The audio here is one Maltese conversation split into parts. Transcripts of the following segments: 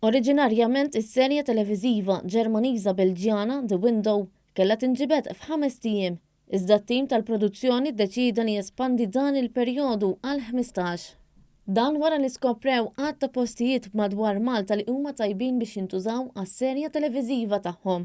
Oriġinarjament is-serje televiżiva Ġermaniża-Belġjana The Window kellha tinġibed f'ħamest ijiem, iżda t-tim tal-produzzjoni ddeċieda li jespandi dan il-perjodu għal ħmistax. Dan wara li skoprew għadd ta' postijiet madwar Malta li huma tajbin biex jintużaw għas-serje televiżiva tagħhom.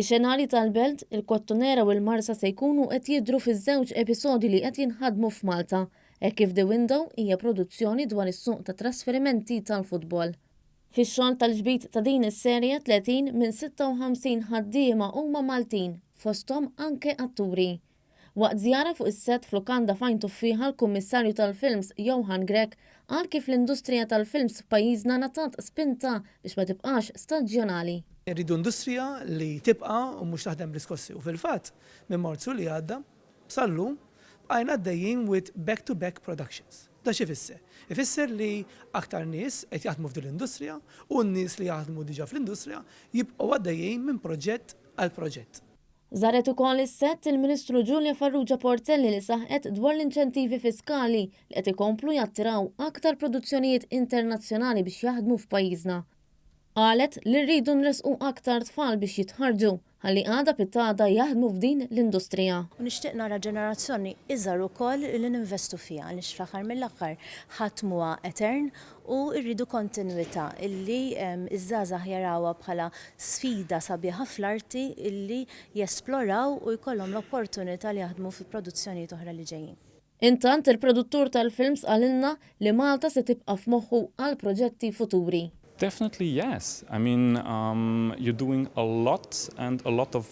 Ix-xenarji tal-Belt, il-Kottonera u l-Marsa se jkunu qed jidhru fiż-żewġ episodji li qed jinħadmu f'Malta, hekk kif The Window hija produzzjoni dwar is-suq tat-trasferimenti tal-futbol. Fix-xogħol tal-ġbid ta' din is-serje, 30 minn 56 ħaddiema huma Maltin, fosthom anke atturi. Waqt żjara fuq is-sett f'lukanda f'Għajn Tuffieħa l-Kummissarju tal-Films Johan Grech qal kif l-industrija tal-films f'pajjiżna ngħatat spinta biex ma tibqax staġjonali. Irridu industrija li tibqa' u mhux taħdem bl-iskossi u fil-fatt minn Marzu li għadda sal-lum bqajna għaddejjin with back to back productions. Dan x'ifisser? Ifisser li aktar nies qed jaħdmu f'din l-industrija u n-nies li jaħdmu diġà fl-industrija jibqgħu għaddejjin minn proġett għal proġett. Żaret ukoll is-sett il-Ministru Julia Farrugia Portelli li saħqet dwar l-inċentivi fiskali li qed ikomplu jattiraw aktar produzzjonijiet internazzjonali biex jaħdmu f'pajjiżna. Qalet li rridu nressqu aktar tfal biex jitħarrġu ħalli għada pitgħada jaħdmu f'din l-industrija. U nixtieq nara ġenerazzjoni iżgħar ukoll li ninvestu fiha għaliex fl-aħħar mill-aħħar ħadd mhuwa etern u rridu kontinwità illi ż-żgħażagħ jarawha bħala sfida sabiħa fl-arti illi jesploraw u jkollhom l-opportunità li jaħdmu fi produzzjonijiet oħra li ġejjin. Intant, il-produttur tal-films qalilna li Malta se tibqa' f'moħħu għal proġetti futuri. Definitely yes! I mean, you're doing a lot and a lot of